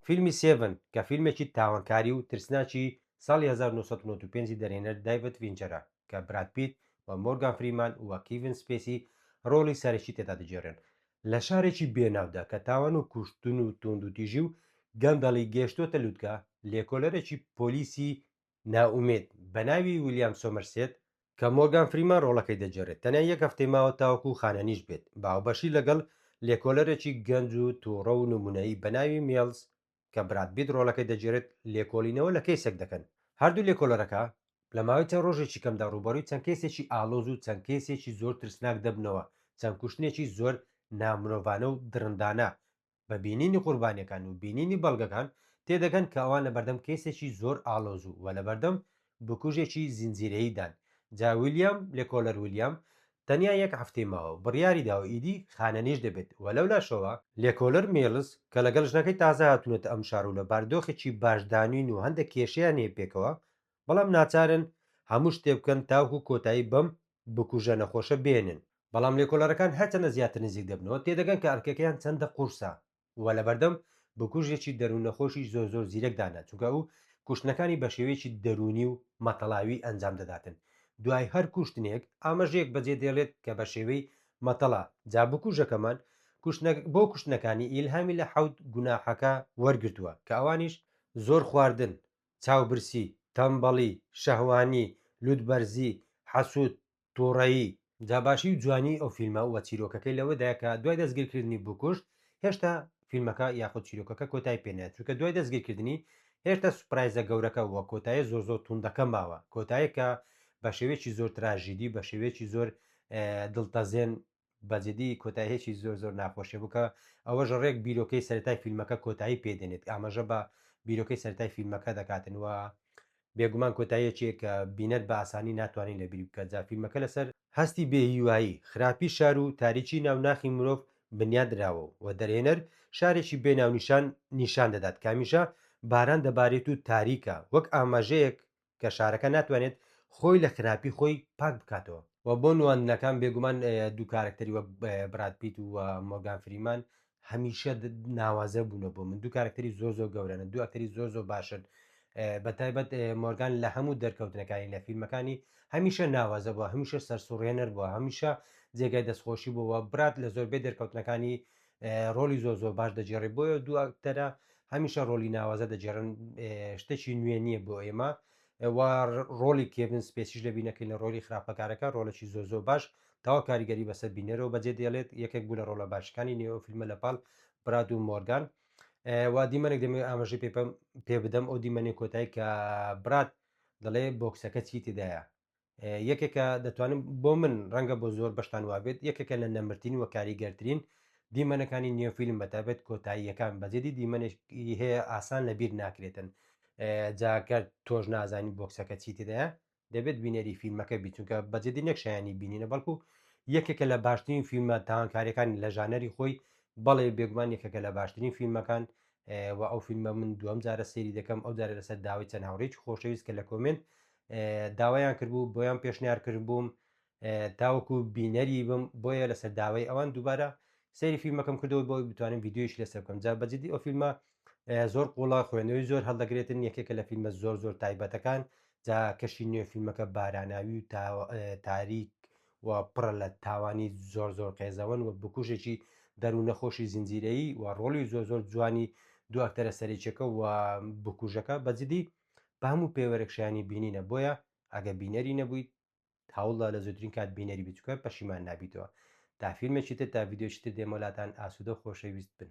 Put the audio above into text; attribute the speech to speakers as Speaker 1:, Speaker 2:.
Speaker 1: فیلمی سێڤن کە فیلمێکی تاوانکاری و ترسناکی ساڵی هەزار و نۆ سەد و نەوەد و پێنج ی دەرهێنەر دایڤد فینچەرە کە براد پیت و مۆرگان فریمان و کیڤن سپێسی ڕۆڵی سەرەکی تێدا دەگێڕێن، لە شارێکی بێناودا کە تاوان و کوشتن و توندوتیژی و گەندەڵی گەیشتۆتە لوتکە، لێکۆلەرێکی پۆلیسی نائومێد، بە ناوی ویلیام سۆمەرسێت، کە مۆرگان فریمان ڕۆڵەکەی دەگێڕێت، تەنیا یەک هەفتەی ماوە تاوەکو خانەنیش بێت، بە هاوبەشی لەگەڵ لێکۆلەرێکی گەنج و تووڕە و نموونەیی بە ناوی میڵز، کە براد بیت ڕۆڵەکەی دەگێڕێت، لێکۆڵینەوە لە کەیسێک دەکەن. هەردوو لێکۆلەرەکە لە ماوەی چەند ڕۆژێکی کەمدا ڕووبەڕووی چەند کەیسێکی ئاڵۆز و چەند کەیسێکی زۆر ترسناک دەبنەوە، چەند کوشتنێکی زۆر نامرۆڤانە و دڕندانە بە بینینی قوربانیەکان و بینینی بەڵگەکان تێدەگەن کە ئەوان لەبەردەم کەیسێکی زۆر ئاڵۆز و وە لەبەردەم بکوژێکی زنجیرەیی دان جا ویلیام لێکۆلەر ویلیام تەنیا یەک هەفتەی ماوە بڕیاری داوە ئیدی خانەنیش دەبێت وە لەولاشەوە لێکۆلەر میڵز کە لەگەڵ ژنەکەی تازە هاتونەتە ئەم شارە و لە باردۆخێکی باش دانین و هەندێک کێشەیان هەیە پێکەوە بەڵام ناچارن هەموو شتێ بکەن تاوەکو کۆتایی بەم بکوژە نەخۆشە بێنن بەڵام لێکۆڵەرەکان هەرچەندە زیاتر نزیک دەبنەوە تێدەگەن کە ئەرکەکەیان چەندە قورسە و لەبەردەم بکوژێکی دەروون نەخۆشی زۆر زۆر زیرەک دانە چونکە ئەو کوشتنەکانی بەشێوەیەکی دەروونی و مەتەڵاوی ئەنجام دەداتن دوای هەر کوشتنێک ئامەژەیەک بەجێ دێڵێت کە بەشێوەی مەتەڵا جا بکوژەکەمان کوشتنە بۆ کوشتنەکانی ئیلهامی لە حەوت گوناحەکە وەرگرتووە کە ئەوانیش زۆر خواردن چاوبرسی، تەمبەڵی، شەهوانی، لوتبەرزی، حەسوود، توڕەیی. جا باشی و جوانی ئەو فیلمە و چیرۆکەکەی لەوەدایە کە دوای دەستگیرکردنی بوکوش هێشتا فیلمەکە یاخود چیرۆکەکە کۆتای پێ نایەت چونکە دوای دەستگیرکردنی هێشتا سوپرایزە گەورەکە و کۆتایە زۆر زۆر توندەکە ماوە کۆتایەک کە بەشێوەیەکی زۆر تراژیدی بەشێوەیەکی زۆر دڵتەزێن بەجدی کۆتایهکی زۆر زۆر ناخۆشە بوکە ئەوەش ڕێک بیرۆکەی سەرەتای فیلمەکە کۆتایی پێ دێنێت ئاماژە بە بیرۆکەی سەرەتای فیلمەکە دەکاتن و بێگومان کۆتاییەکێک کە بینەر بە ئاسانی ناتوانین لە بیری بکە جا فیلمەکە لەسەر هەستی بێ هیوایی خراپی شار و تاریکی ناو ناخی مرۆڤ بنیات نراوە و دەرهێنەر شارێکی بێ ناونیشان نیشان دەدات کامیژە باران دەبارێت و تاریکە وەک ئاماژەیەک کە شارەکە ناتوانێت خۆی لە خراپی خۆی پاک بکاتەوە. وە بۆ نواندنەکان بێگومان دوو کارەکتەری وەک براد پیت و مۆرگان فریمان هەمیشە ناوازە بوونە بۆ من دوو کارەکتەری زۆر زۆر گەورەن دوو ئەکتەری زۆر زۆر باشن بە تایبەت مۆرگان لە هەموو دەرکەوتنەکانی لە فیلمەکانی هەمیشە ناوازە بووە هەمیشە سەرسوڕێنەر بووە هەمیشە جێگای دەستخۆشی بووە برات لە زۆربەی دەرکەوتنەکانی ڕۆلی زۆر زۆر باش دەجێڕێ بۆیە دو ئەکتەرە هەمیشە ڕۆلی ناوازە دەجێڕن شتەکی نوێ نییە بۆ ئێمە ڕۆلی کێبن سپێسیش لە بینەکەی لە ڕۆلی خراپەکارەکە ڕۆلەکی زۆ زۆ باش تاوا کاریگەری بەسەر بینەرەوە بەجێ دێڵێت یەکێک بوو لە ڕۆلە باشەکانی نێو فیلمە لە پاڵ براد و مۆرگان وا دیمەنێک دەمێ ئاماژە پێ پێ بدەم ئەو دیمەنی کۆتای کە برات دەڵێ بۆکسەکە چی تێدایە یەکێکە دەتوانم بۆ من ڕەنگە بۆ زۆر بەشتان وابێت یەکێکە لە نەمرتین و کاریگەرترین دیمەنەکانی نێوفیلم بەتابێت کۆتاییەکان بەجددی دیمەنێکی هەیە ئاسان لە بیر ناکرێتن جاکە تۆش نازانین بۆکسەکە چی تێدایە دەبێت بینەری فیلمەکە بیچونکە بەجددی نەک شایانی بینینە بەڵکو یەکێکە لە باشترین فیلمە تاوانکاریەکان لە ژانەری خۆی بەڵێ بێگومان یەکێکە لە باشترین فیلمەکان و ئەو فیلمە من دوم جارە سێری دەکەم ئەو جارە لەسەر داوای چەند هاوڕێکی خۆشەویست کە لە کۆمنت داوایان کردبوو بۆیان پێشنیار کردبووم تاوەکو بینەری بم بۆیە لەسەر داوای ئەوان دووبارە سەیری فیلمەکەم کردەوە بۆی بتوانم یددیویش لەسەر بکەم جا بەجددی ئەو فیلمە زۆر قوڵە خوێنەوەی زۆر هەڵدەگرێتن یەکێکە لە فیلمە زۆر زۆر تایبەتەکان جا کەشی نوێ فیلمەکە باراناوی و تاریک و پڕە لە تاوانی زۆر زۆر قێزەوەن و بکوژێکی دەروونە خۆشی زنجیرەیی و ڕۆلی زۆر زۆر جوانی دو ئەکتەرە سەرێکیەکە و بکوژەکە بەجددی بە هەموو پێوەرێک شایانی بینینە بۆیە ئەگە بینەری نەبوویت هەوڵدا لە زووترین کات بینەری بچکە پەشیمان نابیتەوە تا فیلمێکی تر تا ڤیددیۆکی تر دێمەلاتان ئاسوودە خۆشەویست بن